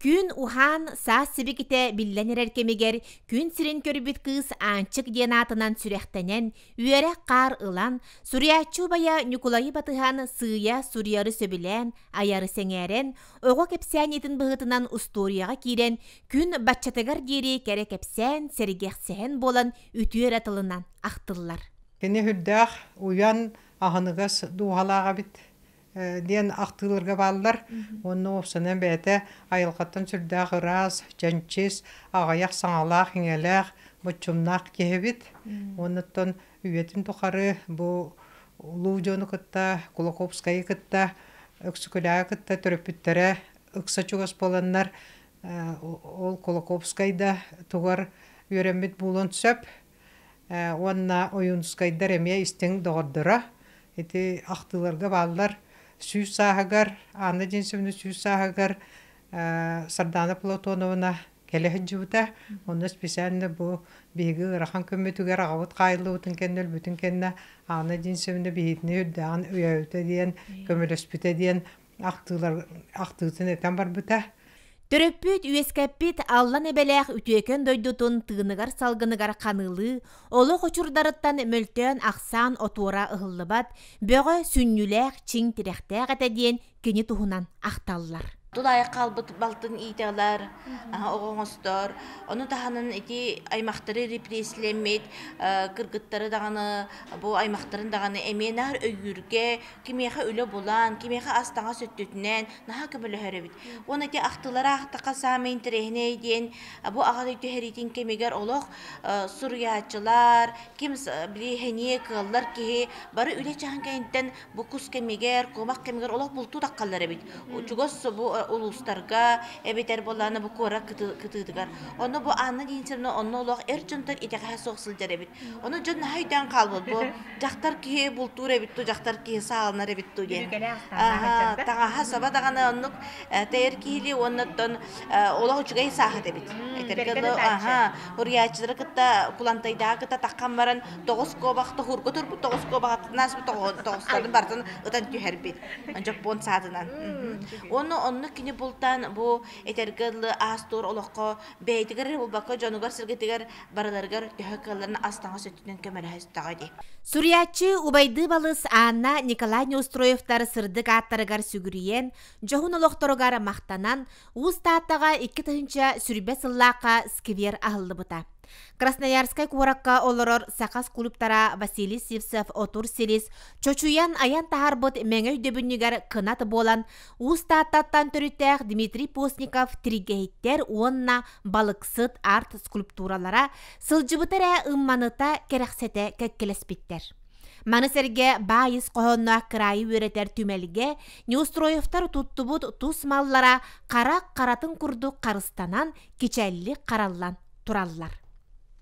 Күн уһаан, саас сибикитэ биллэн эрэр кэмигэр күн сирин көрбүт кыыс Аанчык диэн аатынан сүрэхтэнэн, үөрэх хаар ылан, суруйааччы убайа Ньукулайы батыһан сыыйа суруйары сөбүлээн, айары сэҥээрэн, оҕо кэпсээниитин быһыытынан устуоруйаҕа киирэн, күн баччатыгар диэри кэрэ кэпсээн, сэргэхсэһэн буолан үтүө эрэ тылынан ахтыллар. Кини үрдээх, уйан, аһыныгас дууһалаах эбит. диэн ахтыыларга бааллар уонна уопсанан бэйэтэ айылҕаттан сүрдээх ыраас чэнчис аҕыйах саҥалаах иҥэлээх боччумнаах киһибит уонуттан үйэтин тухары бу улуу дьону кытта кулаковскайы кытта өксүкүлээҕи кытта төрөппүттэрэ ыкса чугас буоланнар ол кулаковскай да тугар үөрэммит буолуон сөп уонна ойуунускайдар эмиэ истиҥ доҕордоро. Ити ахтыыларга бааллар. Сүүс сааһыгар, Анна Денисовна сүүс сааһыгар Сардаана Платоновна кэлэ сылдьыбыта. Онно специально бу биһиги ыарахан күммүтүгэр аҕабыт хаайыллыбытын кэннэ өлбүтүн кэннэ Анна Денисовна биһигини үрдээҕин өйөөбүтэ диэн, көмөлөспүтэ диэн ахтыылар ахтыытын этэн барбыта Төрөппүт үөскэппит Аллан Эбэлээх үтүөкэн дойдутун тыыныгар-салгыныгар ханыылыы олох учурдарыттан мөлтөөн ахсаан отуора ыһыллыбат бөҕө сүнньүлээх чиҥ тирэхтээх этэ диэн кини туһунан ахталлар. Тулаайах хаалбыт балтын иитэлэр, оҕо оҥостор. Ону таһынан ити аймахтары репрессийлэммит, кыргыттары даҕаны, бу аймахтарын даҕаны эмиэ наар өйүүргэ, кимиэхэ үлэ булан, кимиэхэ ас-таҥас өттүтүнэн наһаа көмөлөһөр эбит. Уонна ити ахтыылары аахтахха саамай интэриэһинэй диэн бу аҕа дойду түһэриитин кэмигэр олох суруйааччылар, ким билиэһиниэ кыаллар киһи бары үлэ чаһын кэнниттэн бу кус кэмигэр, куомах кэмигэр олох бултуу таххаллар эбит. Чугас бу улуустарга эбэтэр буоллаҕына бу куорат кытыытыгар. Онно бу Анна диэн сир онно олох эр дьонтор итэҕэһэ суох сылдьар эбит. Ону дьон наһаа өйдөөн хаалбыт дьахтар киһи бултуур эбит ту, дьахтар киһи сааланар эбит ту диэн. Аһа, таҥаһа саба даҕаны оннук тэйэр киһилии уонна оттон олох үчүгэй саахат эбит. Этэргэ аһа, уруйааччылары кытта кулантайдааҕы кытта таххан баран тоҕус куобах тоһуурга турбут тоҕус куобахтан ааспыт тоҕустарын бартын ытан түһэрбит. Дьоппуон саатынан. Уонна онно кини бултаан бу этэргэ ыллы аас-туор олоххо бэйэтигэр эрэ булбакка дьонугар-сэргэтигэр барыларыгар төһө кыалларын ас-таҥас өттүнэн көмөлөһө истэҕэ дии. Суруйааччы убайдыы балыс Анна Николай Неустроевтар сырдык ааттарыгар сүгүрүйэн, дьоһун олохторугар махтанан, Уус Тааттаҕа икки тыһыынча сүүрбэ сыллаахха сквер аһыллыбыта. Красноярскай куоракка олорор сахас кулуптара Василий Сивцев отур силис чочуйан айан таһарбыт мэҥэ өйдөбүнньүгэр кынат буолан Уус Тааттаттан төрүттээх Дмитрий Постников тригэһиттэр уонна балыксыт арт скульптуралара сылдьыбыта эрэ ымманыта кэрэхсэтэ кэккэлэспиттэр. Маны сэргэ баайыс хоһоонноох кыраайы үөрэтэр түмэлгэ Неустроевтар туттубут тус маллара хара харатын курдук харыстанан кичэллик хараллан тураллар.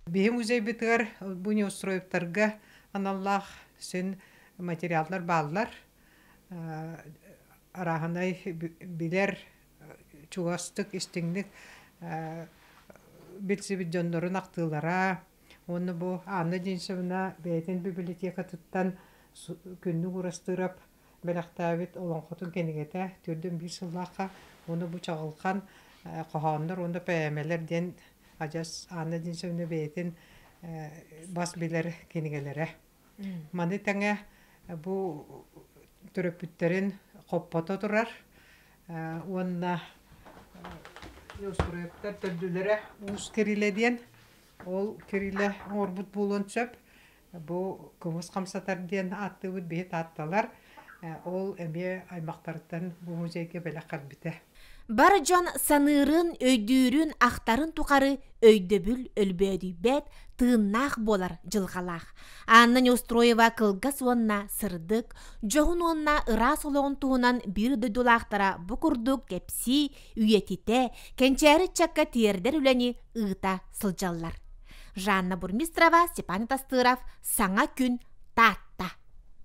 Бихи музейбитыгар бу Неустроевтарга аналлаах син материаллар бааллар. арааһынай билэр чугастык, истиҥник билсибит дьоннорун ахтыылара уонна бу Анна Денисовна бэйэтин библиотекатыттан Күннүк Уурастыырап бэлэхтээбит олоҥхотун кинигэтэ төрдөн биир сыллаахха уонна бу чаҕылхан хоһооннор уонна поэмалар диэн адьас Анна Денисовна бэйэтин бас билэр кинигэлэрэ Маны тэҥэ бу төрөппүттэрин хоппото турар уонна устуруйаттар төрдүлэрэ уус кирилэ диэн ол кирилэ оҥорбут буолуон сөп бу кымыс хамсатар диэн ааттыыбыт биһи таатталар Ол эмиэ аймахтарыттан бу музейга бэлэх харбитэ. Бар дьон саныырын, өйдүүрүн, ахтарын тухары өйдөбүл өлбөөдүйбэт, тыыннаах буолар дьылҕалаах. Анна Неустроева кылгас уонна сырдык, дьоһун уонна ыраас олоҕун туһунан биир дойдулаахтара бу курдук кэпсии, үйэтитэ, кэнчээри ыччакка тиэрдэр үлэни ыыта сылдьаллар. Жанна Бурмистрова, Степан Тастыров, саҥа күн Таатта